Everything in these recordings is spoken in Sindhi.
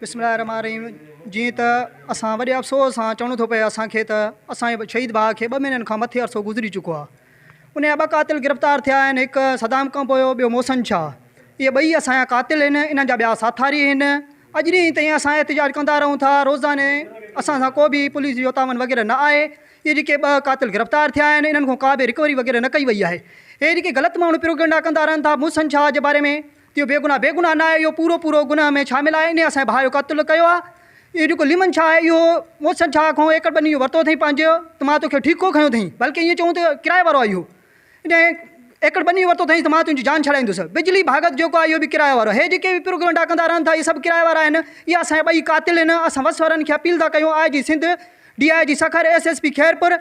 بسم الله الرحمٰن الرحيم جيئن ته اسان وڏي افسوس سان چوڻو ٿو پئي اسان کي ته اسان جي شهيد ڀاء کي ٻه مهينن کان مٿي عرصو گذري چڪو آهي ان جا ٻه قاتل گرفتار ٿيا آهن هڪ صدام کان پويو ٻيو محسن شاهه اهي ٻئي اسان جا قاتل آهن انهن جا ٻيا ساٿاري آهن اڄ ڏينهن تائين اسان احتجاج ڪندا رهون ٿا روزاني اسان سان ڪو به پوليس جو تعاون وغيره نه آهي اهي جيڪي ٻه قاتل گرفتار ٿيا آهن انهن کان ڪا به رڪوري وغيره نه ڪئي وئي آهي اهي جيڪي غلط ماڻهو پروگنڊا ڪندا رهن ٿا محسن شاهه جي باري ۾ اهو بيگناهه بيگناهه ناهي اهو پورو پورو گناهه ۾ شامل آهي انهي اسان جي ڀاء جو قتل ڪيو آهي اهو جيڪو ليمن شاهه آهي اهو محسن شاهه کان ايڪڙ ٻني جو ورتو اٿئي پنهنجو ته مان توکي ٺيڪو کنيو اٿئي بلڪه ائين چئون ته ڪرايي وارو آهي اهو انهي ايڪڙ ٻني جو ورتو اٿئي ته مان تنهنجي جان ڇڏائيندس بجلي ڀاڳت جيڪو آهي اهو به ڪرايي وارو آهي هي جيڪي به پروگنڊا ڪندا رهن ٿا اهي سڀ ڪرايي وارا آهن اهي اسان جا ٻئي قاتل آهن اسان وس وارن کي اپيل ٿا ڪيون I G Sindh D I G Sukkur S S P Khairpur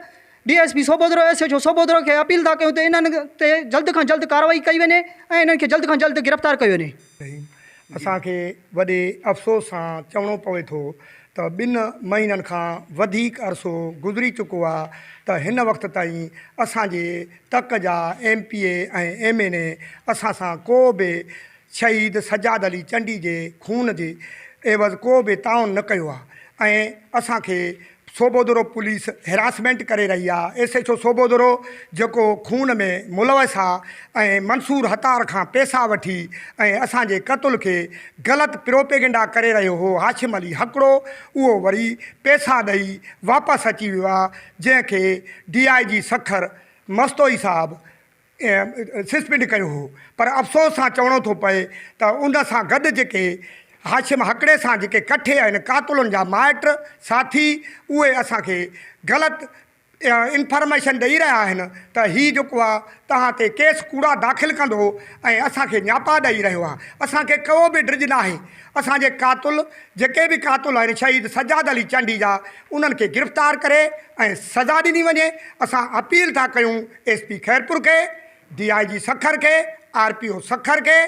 D S P Sobhodero S H O Sobhodero کي اپيل ٿا ڪيون ته انهن تي جلد کان جلد ڪارروائي ڪئي وڃي ۽ انهن کي جلد کان جلد گرفتار ڪيو وڃي. رحيم، اسان کي وڏي افسوس سان چوڻو پوي ٿو ته ٻن مهينن کان وڌيڪ عرصو گذري چڪو آهي ته هن وقت تائين اسان جي تڪ جا M P A ۽ M N A اسان سان ڪو به شهيد سجاد علي چنڊي جي خون جي عيوض ڪو به تعاون نه ڪيو آهي ۽ اسان کي صوڀودرو پوليس هراسمينٽ ڪري رهي آ، ايس ايڇ او صوڀودرو جيڪو خون ۾ ملوث آ ۽ منصور هتار کان پيسا وٺي ۽ اسان جي قتل کي غلط پروپيگنڊا ڪري رهيو هو هاشم علي هڪڙو اهو وري پيسا ڏئي واپس اچي ويو آ جنهن کي D I G Sukkur Mastoi صاحب سسپينڊ ڪيو هو پر افسوس سان چوڻو ٿو پئي ته ان سان گڏ جيڪي هاشم هڪڙي سان جيڪي ڪٺي آهن قاتلن جا مائٽ ساٿي اهي اسان کي غلط انفارميشن ڏئي رهيا آهن ته هي جيڪو آهي توهان تي ڪيس ڪوڙا داخل ڪندو ۽ اسان کي نياپا ڏئي رهيو آهي اسان کي ڪو به ڊڄ ناهي اسان جي قاتل جيڪي به قاتل آهن شهيد سجاد علي چانڊيجا انهن کي گرفتار ڪري ۽ سزا ڏني وڃي اسان اپيل ٿا ڪيون ايس پي خيرپور کي، ڊي آء جي سکر کي، آر پي او سکر کي،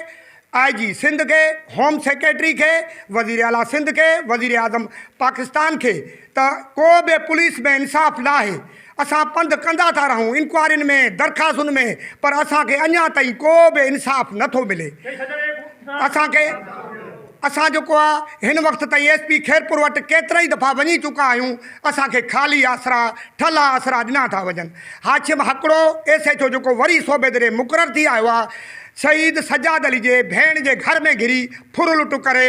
آء جي سنڌ کي، هوم سيڪريٽري کي، وزير اعليٰ سنڌ کي، وزير اعظم پاڪستان کي ته ڪو به پوليس ۾ انصاف ناهي. اسان پنڌ ڪندا ٿا رهون، انڪوائرين ۾، درخواستن ۾ پر اسان کي اڃا تائين ڪو به انصاف نٿو ملي. اسان کي. اسان جيڪو آ هن وقت تائين ايس پي خيرپور وٽ ڪيترائي دفعا وڃي چڪا آهيون اسان کي خالي آسرا ٺلها آسرا ڏنا ٿا وڃن Hashim Hakro S H O جيڪو وري صوبيدي ڏي مقرر ٿي آيو آ شهيد سجاد علي جي ڀيڻ جي گهر ۾ گهري ڦرلٽ ڪري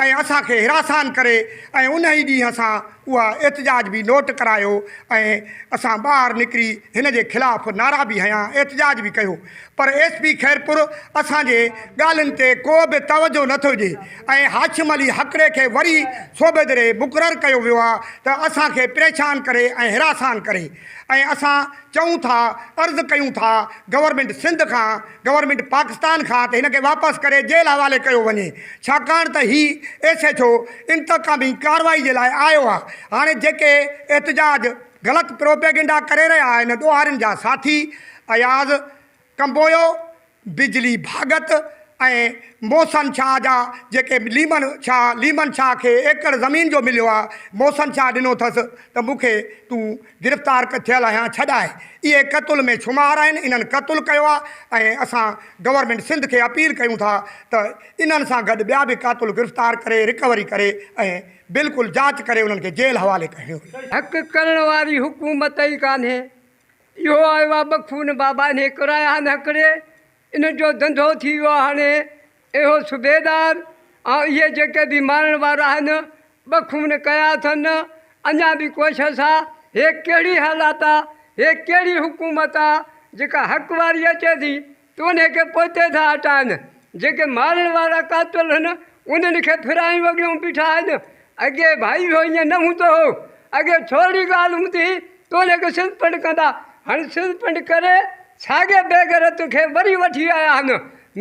۽ اسان کي حراسان ڪري ۽ انهي ڏينهن اسان اها احتجاج به نوٽ ڪرايو ۽ اسان ٻاهر نڪري هن جي خلاف نعرا به هنيا احتجاج به ڪيو پر ايس پي خيرپور اسان جي ڳالهين تي ڪو به توجهه نه ٿو ڏي ۽ هاشم علي هڪڙي کي وري صوبيدري مقرر ڪيو ويو آهي ته اسان کي پريشان ڪري ۽ حراسان ڪري ۽ اسان چئون ٿا عرض ڪيون ٿا گورنمينٽ سنڌ کان گورنمينٽ پاڪستان کان ته هن کي واپس ڪري جيل حوالي ڪيو وڃي ڇاڪاڻ ته هي ايس ايڇ او انتقامي ڪاروائي جي لاء آيو آ هاڻي جيڪي احتجاج غلط پروپيگنڊا ڪري رهيا آهن ڏوهارين جا ساٿي اياز ڪمبويو بجلي ڀاڳت ۽ محسن شاهه جا جيڪي ليمن شاهه ليمن شاهه کي ايڪڙ زمين جو مليو آ محسن شاهه ڏنو ٿس ته مون کي تون گرفتار ڪٿيل اھيان ڇڏائي اھي قتل ۾ شمار آھن انھن قتل ڪيو آ ۽ اسان گورنمينٽ سنڌ کي اپيل ڪيون ٿا ته انھن سان گڏ ٻيا به قاتل گرفتار ڪري رڪوري ڪري ۽ بلڪل جاچ ڪري انھن کي جيل حوالي ڪيو وڃي. ھڪ ڪرڻ واري حڪومت ئي ڪانھي اھو آيو آ بخون بابا انھي ڪرايا ھا نھڪري ان جو دنڌو ٿي ويو آ ھاڻي. اهو صوبيدار، آئون اهي جيڪي به مارڻ وارا آهن، ٻه خون ڪيا اٿن، اڃا به ڪوشش آ، هي ڪهڙي حالات آ، هي ڪهڙي حڪومت آ، جيڪا حق واري اچي ٿي ته انهي کي پوئتي ٿا هٽائن، جيڪي مارڻ وارا قاتل هن، انهن کي ڦرائي وڳيون بيٺا آهن، اڳي ڀائي هو ائين نه هوندو هو. اڳي ٿورڙي ڳالهه هوندي هئي توليڪ سنڌ پنڊ ڪندا. هاڻي سنڌ پنڊ ڪري ساڳئي بيغيرت کي وري وٺي آيا آهن.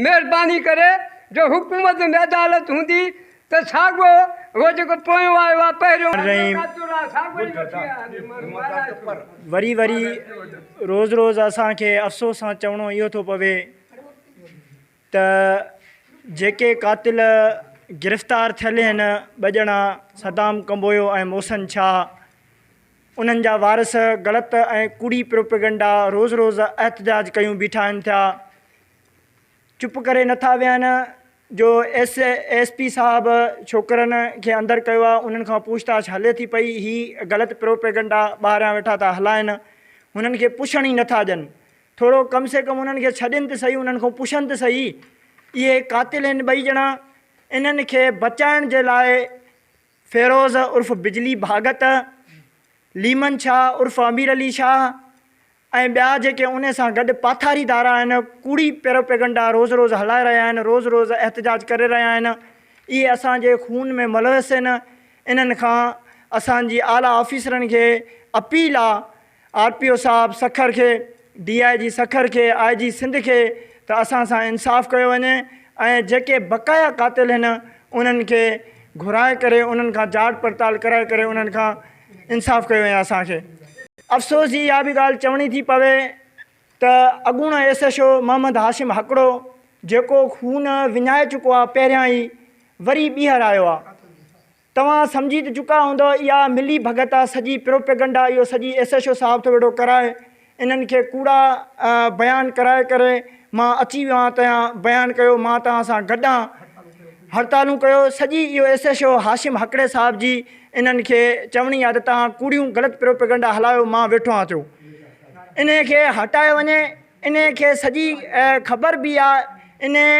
مهرباني ڪري جو حڪومت ۾ عدالت هوندي ته ساڳئو اهو جيڪو پويون آيو آهي پهريون آيو ڪاتو راء ساڳئو ئي وٺي آيا آهن. وري وري روز روز اسان کي افسوس سان چوڻو اهو ٿو پوي. ته جيڪي قاتل گرفتار ٿيل آهن ٻه ڄڻا صدام ڪمبويو ۽ محسن شاهه انهن جا وارث غلط ۽ ڪوڙي پروپيگنڊا روز روز احتجاج ڪيون بيٺا آهن ٿيا چپ ڪري نٿا ويهن جو ايس ايس پي صاحب ڇوڪرن کي اندر ڪيو آهي انهن کان پوڇتاڇ هلي ٿي پئي هي غلط پروپيگنڊا ٻاهريان ويٺا ٿا هلائن هنن کي پڇڻ ئي نٿا ڏين ٿورو ڪم سي ڪم انهن کي ڇڏين ته سهي انهن کان پڇن ته سهي اهي قاتل آهن ٻئي ڄڻا انهن کي بچائڻ جي لاء فيروز عرف بجلي ڀاڳت ليمن شاهه عرف امير علي شاهه ۽ ٻيا جيڪي ان سان گڏ پاٿاري ڌارا آهن ڪوڙي پيروپيگنڊا روز روز هلائي رهيا آهن روز روز احتجاج ڪري رهيا آهن اهي اسان جي خون ۾ ملوث آهن انهن کان اسان جي اعليٰ آفيسرن کي اپيل آهي آر پي او صاحب سکر کي، ڊي آء جي سکر کي، آء جي سنڌ کي ته اسان سان انصاف ڪيو وڃي ۽ جيڪي بقايا قاتل هن انهن کي گهرائي ڪري انهن کان جاچ پڙتال ڪرائي ڪري انهن کان انصاف ڪيو وڃي اسان کي افسوس جي اها به ڳالهه چوڻي ٿي پوي ته اڳوڻو S H O Muhammad Hashim Hakro جيڪو خون وڃائي چڪو آهي پهريان ئي وري ٻيهر آيو آهي. توهان سمجهي ته چڪا هوندؤ اها ملي ڀڳت آ سڄي پروپيگنڊا اهو سڄي ايس ايڇ او صاحب ٿو ويٺو ڪرائي انهن کي ڪوڙا بيان ڪرائي ڪري مان اچي ويو آهيان تيان بيان ڪيو مان توهان سان گڏ آهيان هڙتالون ڪيو سڄي اهو ايس ايڇ او هاشم هڪڙي صاحب جي انهن کي چوڻي آهي ته توهان ڪوڙيون غلط پروپيگنڊا هلايو مان ويٺو آهيان ٿيو انهي کي هٽايو وڃي انهي کي سڄي خبر به آهي انهي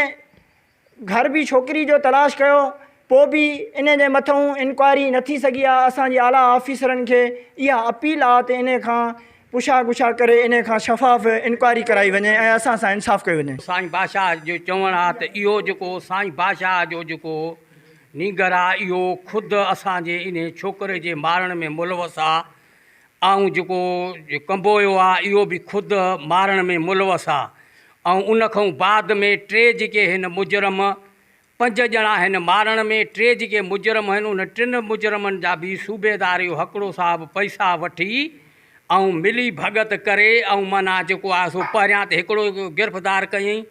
گهر به ڇوڪري جو تلاش ڪيو پوء به ان جي مٿئون انڪوائري نه ٿي سگهي آ اسان جي اعليٰ آفيسرن کي اها اپيل آ ته ان کان پڇا گڇا ڪري ان کان شفاف انڪوائري ڪرائي وڃي ۽ اسان سان انصاف ڪيو وڃي. سائين بادشاهه جو چوڻ آ ته اهو جيڪو سائين بادشاهه جو جيڪو نينگر آ اهو خود اسان جي انهي ڇوڪري جي مارڻ ۾ ملوث آ آئون جيڪو ڪنبويو آ اهو به خود مارڻ ۾ ملوث آ ۽ ان کان بعد ۾ ٽي جيڪي هن مجرم پنج ڄڻا هن مارڻ ۾ ٽي جيڪي مجرم هن ان ٽن مجرمن جا به صوبيدار اهو هڪڙو صاحب پئسا وٺي ۽ ملي ڀڳت ڪري ۽ معنيٰ جيڪو آ سو پهريان ته هڪڙو گرفتار ڪيئين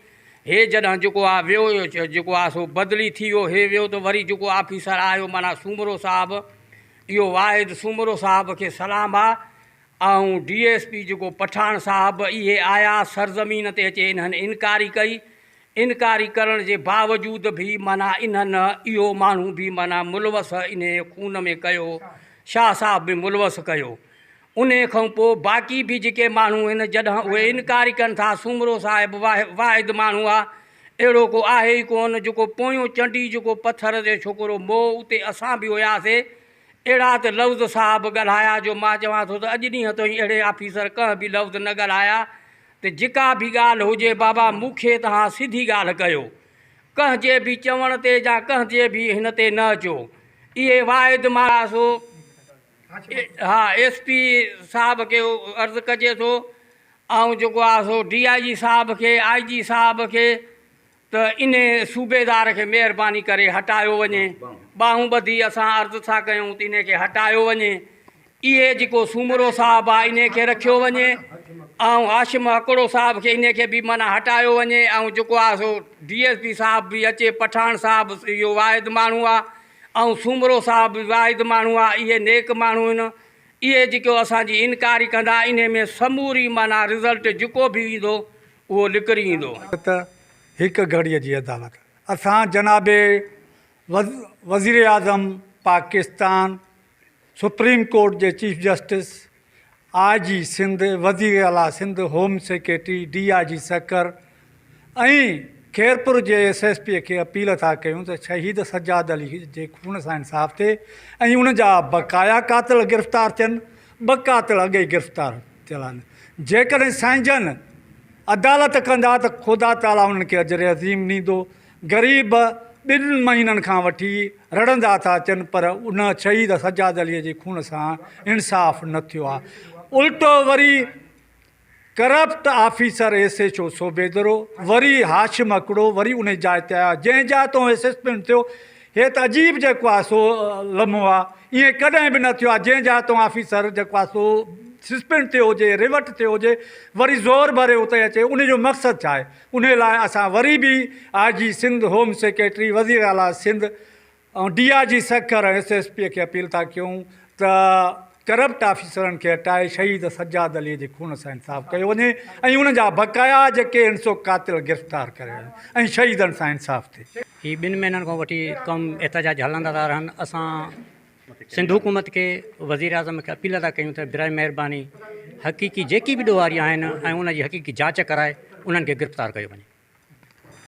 هي جڏهن جيڪو آ ويو جيڪو آ سو بدلي ٿي ويو هي ويو ته وري جيڪو آفيسر آيو معنيٰ سومرو صاحب اهو واحد سومرو صاحب کي سلام آ ۽ ڊي ايس پي جيڪو پٺاڻ صاحب اهي آيا سرزمين تي اچي انهن انڪاري ڪئي انڪاري ڪرڻ جي باوجود به معنيٰ انهن اهو ماڻهو به معنيٰ ملوث انهي خون ۾ ڪيو شاهه صاحب به ملوث ڪيو انهي کان پو باقي به جيڪي ماڻهو آهن جڏهن اهي انڪاري ڪن ٿا سومرو صاحب واحد ماڻهو آ اهڙو ڪو آهي ئي ڪونه جيڪو پويون چنڊي جيڪو پٿر جو ڇوڪرو مئو اتي اسان به هياسي اهڙا ته لفظ صاحب ڳالهايا جو مان چوان ٿو ته اڄ ڏينهن توئين اهڙي آفيسر ڪنهن به لفظ نه ڳالهايا ته جيڪا به ڳالهه هجي بابا مون کي توهان سڌي ڳالهه ڪيو ڪنهن جي به چوڻ تي يا ڪنهن جي به هن تي نه اچو اهي واعد مارا سو ايس پي صاحب کي عرض ڪجي ٿو ۽ جيڪو آ سو ڊي آء جي صاحب کي آء جي صاحب کي ته انهي صوبيدار کي مهرباني ڪري هٽايو وڃي ٻانهون ٻڌي اسان عرض ٿا ڪيون ته انهي کي هٽايو وڃي اهي جيڪو سومرو صاحب آ انهي کي رکيو وڃي ۽ هاشم هڪڙو صاحب کي انهي کي به معنيٰ هٽايو وڃي ۽ جيڪو آ سو ڊي ايس پي صاحب به اچي پٺاڻ صاحب اهو واحد ماڻهون آ ۽ سومرو صاحب به واحد ماڻهو آ اهي نيڪ ماڻهو هن اهي جيڪو اسان جي انڪاري ڪندا انهي ۾ سموري معنيٰ رزلٽ جيڪو به ايندو اهو لڪري ايندو. نه ته هڪ گهڙي جي عدالت اسان جناب وزيراعظم پاڪستان سپريم ڪورٽ جي chief justice, I G Sindh, وزير اعليٰ Sindh, home secretary, D I G Sukkur ۽ Khairpur جي ايس ايس پي کي اپيل ٿا ڪيون ته شهيد سجاد علي جي خون سان انصاف ٿئي ۽ ان جا بقايا قاتل گرفتار ٿين، ٻه قاتل اڳ ئي گرفتار ٿيل آهن، جيڪڏهن سائين جن عدالت ڪندا ته خدا تعاليٰ انهن کي اجر عظيم ڏيندو غريب ٻن مهينن کان وٺي رڙهندا ٿا اچن پر ان شهيد سجاد عليء جي خون سان انصاف نه ٿيو آهي الٽو وري corrupt officer S H O Sobhodero وري هاشم هڪڙو وري انهي جاء تي آيا جنهن جاء تون ايس ايس پي ٿيو هي ته عجيب جيڪو آهي سو لمحو آهي ائين ڪڏهن به نه ٿيو آهي جنهن جاء تون آفيسر جيڪو آهي سو سسپينڊ ٿيو هجي ريورٽ ٿيو هجي وري زور ڀري اتي اچي انهي جو مقصد ڇا آهي انهي لاء اسان وري به آء جي سنڌ، هوم سيڪريٽري، وزير اعليٰ Sindh ۽ D I G Sukkur ۽ S S P کي اپيل ٿا ڪيون ته ڪرپٽ آفيسرن کي هٽائي شهيد سجاد علي جي خون سان انصاف ڪيو وڃي ۽ ان جا بقايا جيڪي هن سو قاتل گرفتار ڪري وڃن ۽ شهيدن سان انصاف ٿئي. هي ٻن مهينن کان وٺي ڪم احتجاجي هلندا ٿا رهن اسان سنڌ حڪومت کي وزيراعظم کي اپيل ادا ڪيون ته براء مهرباني حقيقي جيڪي به ڏوهاري آهن ۽ ان جي حقيقي جاچ ڪرائي انهن کي گرفتار ڪيو وڃي.